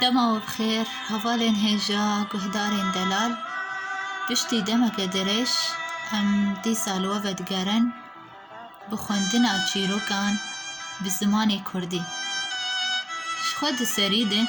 Dema we bi xêr hevalên hêja guhdarên delal. Piştî demeke dirêj em dîsa li we vedigerin bi xwendina çîrokan bi zimanê kurdî. Ji xwe di serî de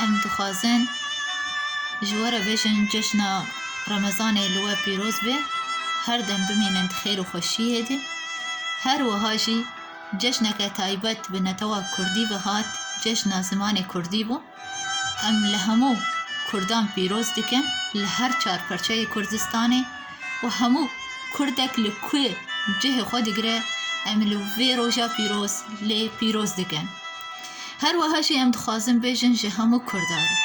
em dixwazin ji we re bêjin cejna remezanê li we pîroz be, her dem bimînin di xêr û xweşiyê de. Her wiha jî. Cejneke taybet bi netewa kurdî ve hat, Cejna Zimanê Kurdî bû. Em li hemû kurdan pîroz dikin li her çar parçeyê Kurdistanê û hemû kurdek li ku cihê xwe digire em li vê roja pîroz lê pîroz dikin. Her wiha jî em dixwazin bêjin ji hemû kurdan re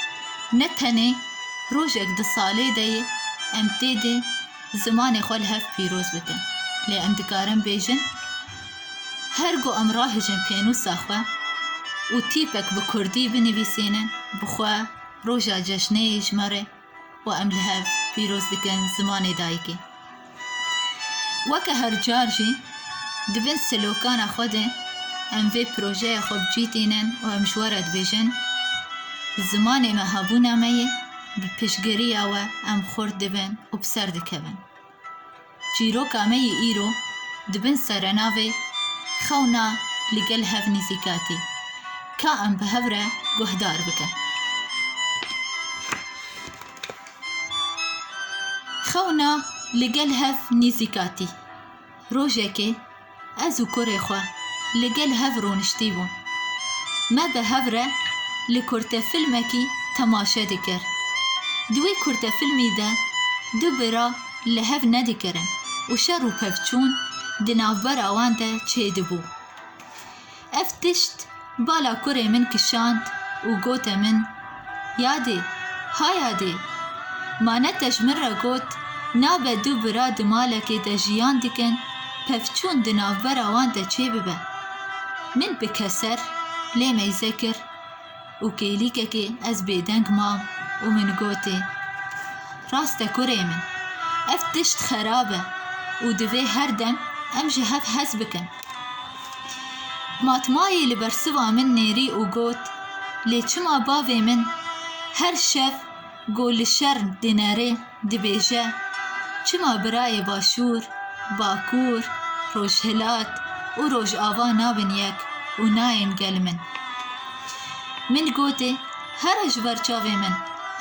ne tenê rojek di salê de yê em tê de zimanê xwe li hev pîroz bikin lê em dikarin bêjin, Her ku em rahêjin pênûsa xwe û tîpek bi kurdî binivîsînin bi xwe roja cejnê yê ji me re û em li hev pîroz dikin zimanê dayikê. Weke her car jî di bin slokana xwe de em vê projeya xwe bi cî tînin û em ji we re dibêjin, Bi zimanê me hebûna me ye, bi piştgiriya we em xurt dibin û bi ser dikevin. Çîroka me yê îro di bin serenavê Xewna li gel hev nîzîkatî ka em bi hev re guhdar bikin. Xewna li gel hev nîzîkatî rojekê Ez û kurê xwe li gel hev rûniştî bûn. Me bi hev re li kurtefilmekî temaşe dikir. Di wê kurtefilmî de du bira li hev nedikirin û şer û pevçûn di navbera wan de çêdibû. Ev tişt bala kurê min kişand û gote min, Yadê, ha Yadê! Manetej min re got, nabe du bira di malekê de jiyan dikin, pevçûn di navbera wan de çêbibe. Min bi keser lê meyze kir. û kêlîkekê ez bêdeng mam û min gotê, Rast e kurê min, ev tişt xerab e û divê her dem em ji hev hez bikin. Matmayê li bersiva min nêrî û got, Lê çima bavê min her şev Ku li şer dinerê dibêje, Çima birayê Başûr, Bakûr, Rojhilat û Rojava nabin yek û nayên gel min? Min gotê, here ji ber çavê min,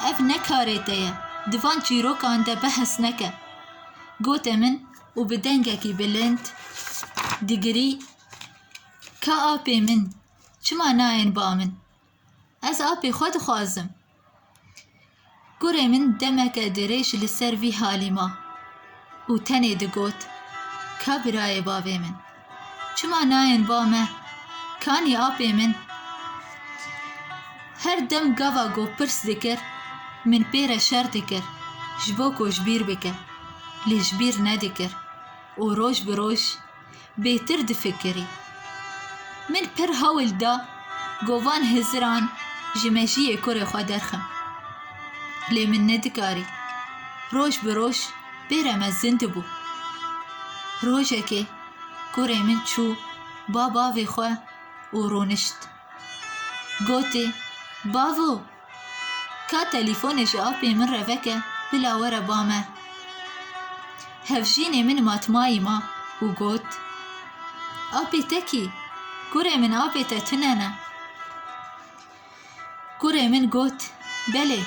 ev ne karê te ye, di van çîrokan de behs neke. Gote min û bi dengekî bilind digirî, Ka apê min, çima nayên ba min? Ez apê xwe dixwazim. Kurê min demeke dirêj li ser vî halî ma û tenê digot, Ka birayê bavê min, çima nayên ba me? Kanî apê min? Her dem gava ku pirs dikir, min pê re şer dikir ji bo ku ji bîr bike, lê ji bîr nedikir û roj bi roj bêtir difikirî. Min pir hewl da ku van hiziran ji mejiyê kurê xwe derxim. Lê min nedikarî. Roj bi roj bêre me zin dibû. Rojekê kurê min çû ba bavê xwe û rûnişt. Gotê, Bavo! Ka telîfonê ji apê min re veke, bila were ba me. Hevjînê min matmayî ma û got, Apê te kî? Kurê min apê te tune ne. Kurê min got, Belê,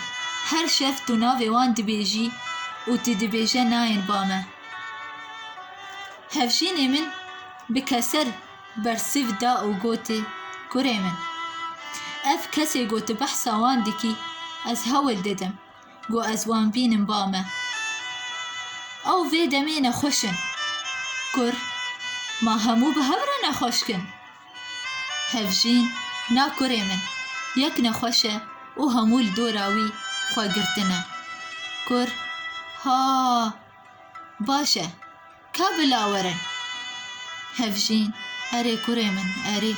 her şev tu navê wan dibêjî û tu dibêje nayên ba me. Hevjînê min bi keser bersiv da û gotê, Kurê min, ev kesê ku tu behsa wan dikî, ez hewl didim ku ez wan bînim ba me. Ew vê demê nexweş in. Kur, Ma hemû bi hev re nexweş kin. Hevjîn, Na kurê min, yek nexweş e û hemû li dora wî xwe girtine. Kur, Ha! Baş e. Ka bila were hevjîn. Erê kurê min erê.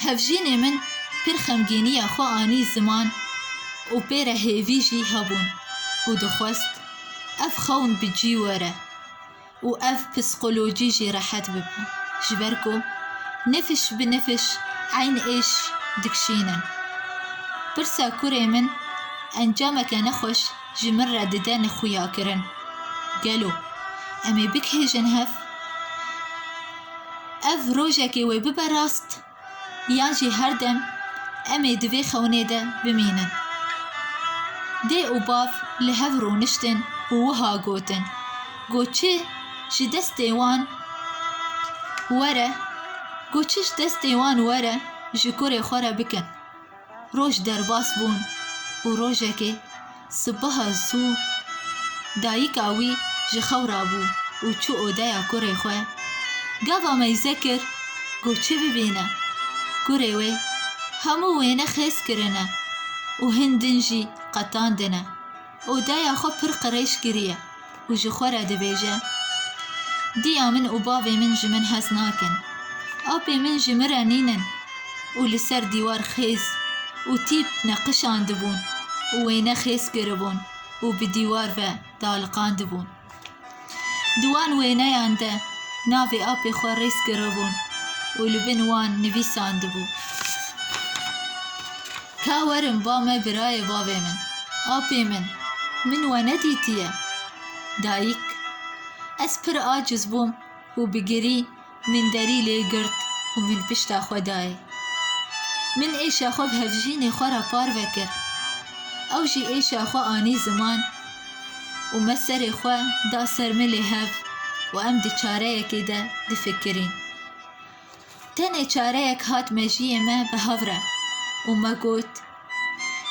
Hevjînê min pir xemgîniya xwe anî ziman û pê re hêvî jî hebûn û dixwest ev xewn bi cî were û ev psîkolojî jî rehet bibe ji ber ku nifş bi nifş eyn êş dikşînin. Pirsa kurê min encameke nexweş ji min re dide nexuyakirin. Gelo em ê bikihêjin hev? Ev rojekê wê bibe rast yan jî her dem em ê di vê xewnê de bimînin. Dê û bav li hev rûniştin û wiha gotin, Go çi ji destê wan were, go çi ji destê wan were ji kurê xwe re bikin. Roj derbas bûn û rojekê sibeha zû dayika wî ji xew rabû û çû odeya kurê xwe. Gava meyze kir ku çi bibîne. Kurê wê hemû wêne xêz kirine û hin din jî qetandine. Û daya xwe pir qirêj kiriye û ji xwe re dibêje, Diya min û bavê min ji min hez nakin. Apê min ji min re nînin û li ser dîwar xêz û tîp neqişandibûn û wêne xêz kiribûn û bi dîwar ve daliqandibûn. Di wan wêneyan de navê apê xwe rêz kiribûn û li bin wan nivîsandibû Ka werin ba me birayê bavê min, apê min, min we nedîtiye. Dayik, Ez pir aciz bûm û bi girî Min derî lê girt û min pişta xwe dayê. Min êşa xwe bi hevjînê xwe re parve kir. Ew jî êşa xwe anî ziman û me serê xwe da ser milê hev û em di çareyekê de difikirîn. Tenê çareyek hat mejiyê me bi hev re û me got.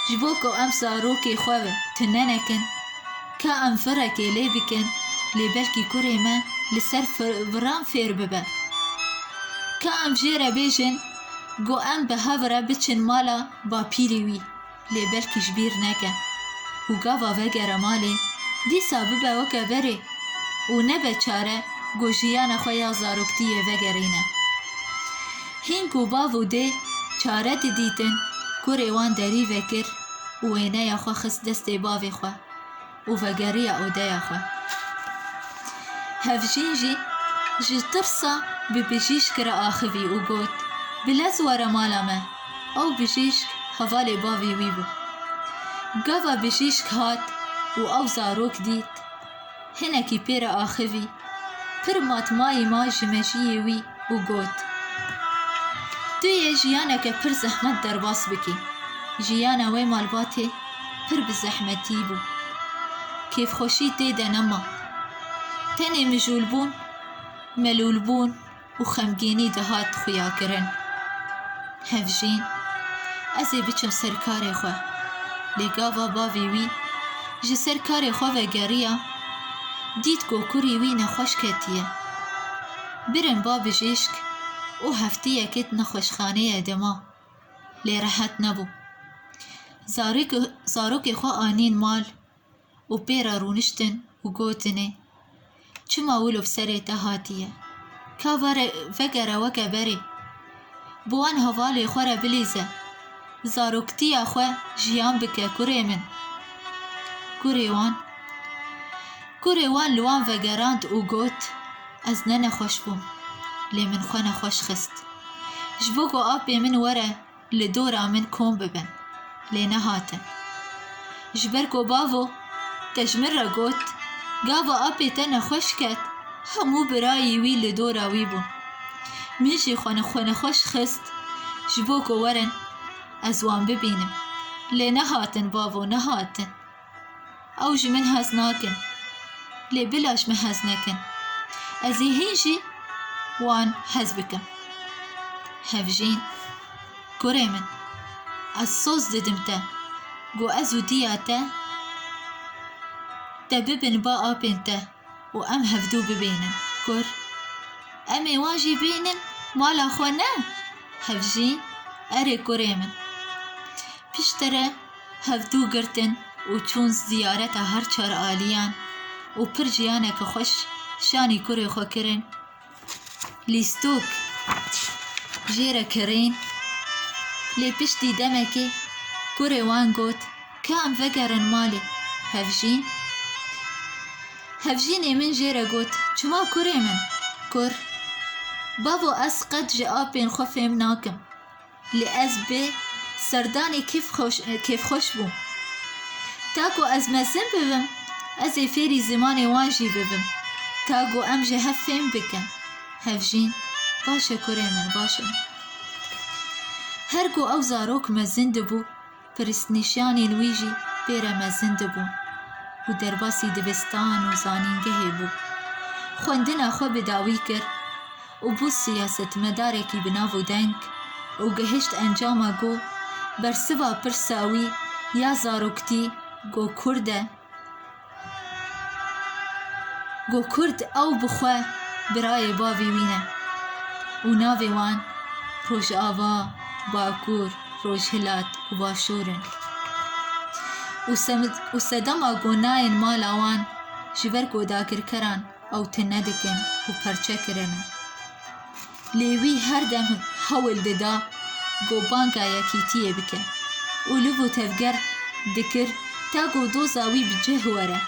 Ji bo ku em zarokê xwe ve tune nekin, ka em virekê lê bikin lê belkî kurê me li ser viran fêr bibe. Ka em jê re bêjin ku em bi hev re biçin mala bapîrê wî lê belkî ji bîr neke û gava vegere malê dîsa bibe weke berê û nebe çare ku jiyana xwe ya zaroktiyê vegerîne. Hîn ku bav û dê çare didîtin, kurê wan derî vekir û wêneya xwe xist destê bavê xwe û vegeriya odeya xwe. Hevjîn jî ji tirsa bi bijîşk re axivî û got, Bi lez were mala me. Ew bijîşk hevalê bavê wî bû. Gava bijîşk hat û ew zarok dît. Hinekî pê re axivî. Pir mat mayî ma ji mejiyê wî û got, Tu yê jiyaneke pir zehmet derbas bikî. Jiyana wê malbatê pir bi zehmetî bû. Kêfxweşî tê de nema. Tenê mijûlbûn, melûlbûn, û xemgînî dihat xuyakirin. Hevjîn, Ez ê biçim ser karê xwe. Lê gava bavê wî ji ser karê xwe vegeriya, dît ku kurî wî nexweş ketiye. Birin ba bijîşk û hefteyekê di nexweşxaneyê de ma. Lê rehet nebû. Zarokê xwe anîn mal û pê re rûniştin û gotinê, Çima wilo bi serê te hatiye? Ka vere vegere weke berê. Bi wan hevalê xwe re bilîze. Zaroktiya xwe jiyan bike kurê min. Kurê wan Kurê wan li wan vegerand û got, Ez ne nexweş bûm. Lê min xwe nexweş xist. Ji bo ku apê min were Li dora min kom bibin, lê nehatin. Ji ber ku bavo te ji min re got, Gava apê te nexweş ket, hemû birayî wî li dora wî bûn. Min jî xwe li xwe nexweş xist ji bo ku werin ez wan bibînim, lê nehatin bavo, nehatin. Ew ji min hez nakin. Lê bila ji min hez nekin. Ez ê hîn jî wan hez bikim. Hevjîn, Kurê min, ez soz didim te ku ez û diya te te bibin ba apên te. û em hevdû bibênin kur. Em ê wan jî bênin mala xwe ne? Hevjîn, Erê kurê min. Piştre hevdû girtin û çûn ziyareta her çar aliyan û pir jiyaneke xweş şanî kurê xwe kirin Lîstok jê re kirîn. Lê piştî demekê kurê wan got ka em vegerin malê Hevjîn. Hevjînê min jê re got çima kurê min? Kur, Bavo ez qet ji apên xwe fêm nakim. Lê ez bi serdanê kêfxweş bûm. Ta ku ez mezin bibim, ez ê fêrî zimanê wan jî bibim, ta ku em ji hev fêm bikin. Hevjîn, Baş e kurê min, baş e. Her ku ew zarok mezin dibû. Pirsnîşanên wî jî pêre mezin dibûn û derbasî dibistan û zanîngehê bû. Xwendina xwe bi dawî kir û bû siyasetmedarekî bi nav û deng û gihişt encama ku bersiva pirsa wî ya zaroktî ku kurd e, Got kurd ew bi xwe birayê bavê wî ne û navê wan Rojava, Bakur, Rojhilat û Başûr in û sedema ku nayên mala wan ji ber ku dagirkeran ew tune dikin û perçe kirine. Lê wî her dem hewl dida ku banka Yekîtiyê bike û liv û tevger dikir ta ku doza wî bi cih were.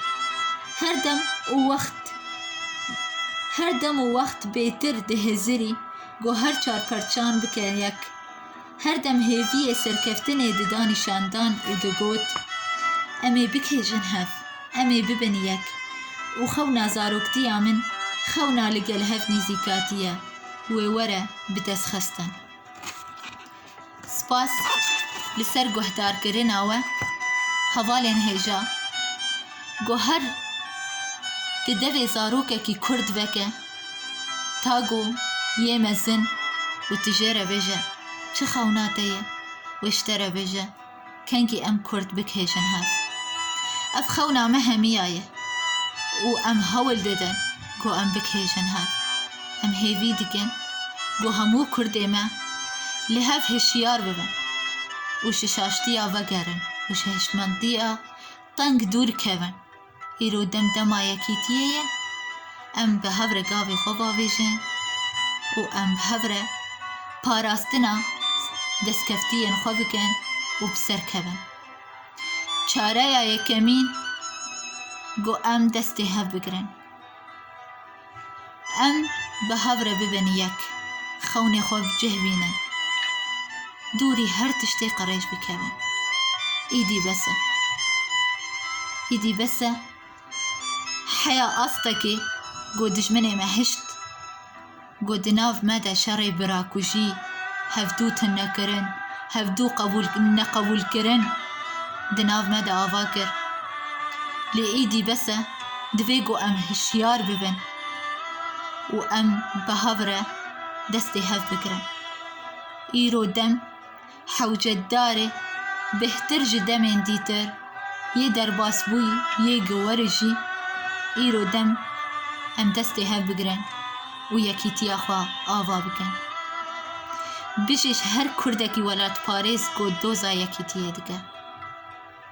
Her dem û wext her dem û wext bêtir dihizirî ku her çar parçan bike yek. Her dem hêviyê serkeftinê dida nîşandan û digot, Em ê bikêjin hev, em ê bibin yek. Û xewna zaroktiya min xewna li gel hev nîzîkatî ye, wê were bi dest xistin. Spas li ser guhdarkirina we hevalên hêja. Gohar di devê zarokekî kurd veke. Tago, yê mezin, û tu jê re bêje, çi xewna te ye? Wê ji te re bêje, kengî em kurd bikihêjin hev. Ev xewna me hemî ya ye û em hewl didin ku em bikihêjin hev. Em hêvî dikin ku hemû kurdê me li hev hişyar bibin û ji şaştiya vegerin û ji hiştmendiya teng dûr kevin. Îro dem dema yekîtiyê ye, em bi hev re gavê xwe bavêjin û em bi hev re parastina destkeftiyên xwe bikin û bi ser kevin. Çareya yekemîn, got em destê hev bigirin. Em bi hev re bibin yek, xewnê xwe bi cih bînin, dûrî her tiştê qirêj bikevin. Îdî bes e. Îdî bes e. Heya astekê ku dijminê me hişt, ku di nav me de şerê birakujî, hevdû tinekirin, hevdû neqebûlkirin di nav me de ava kir. Lê îdî bes e. Divê ku em hişyar bibin û em bi hev re destê hev bigirin. Îro dem hewcedarê bêhtir ji demên dîtir yê derbasbûyî yê giweri jî îro dem em destê hev bigirin û yekîtiya xwe ava bikin. Bijî ji her kurdekî welatparêz ku doza yekîtiyê dike.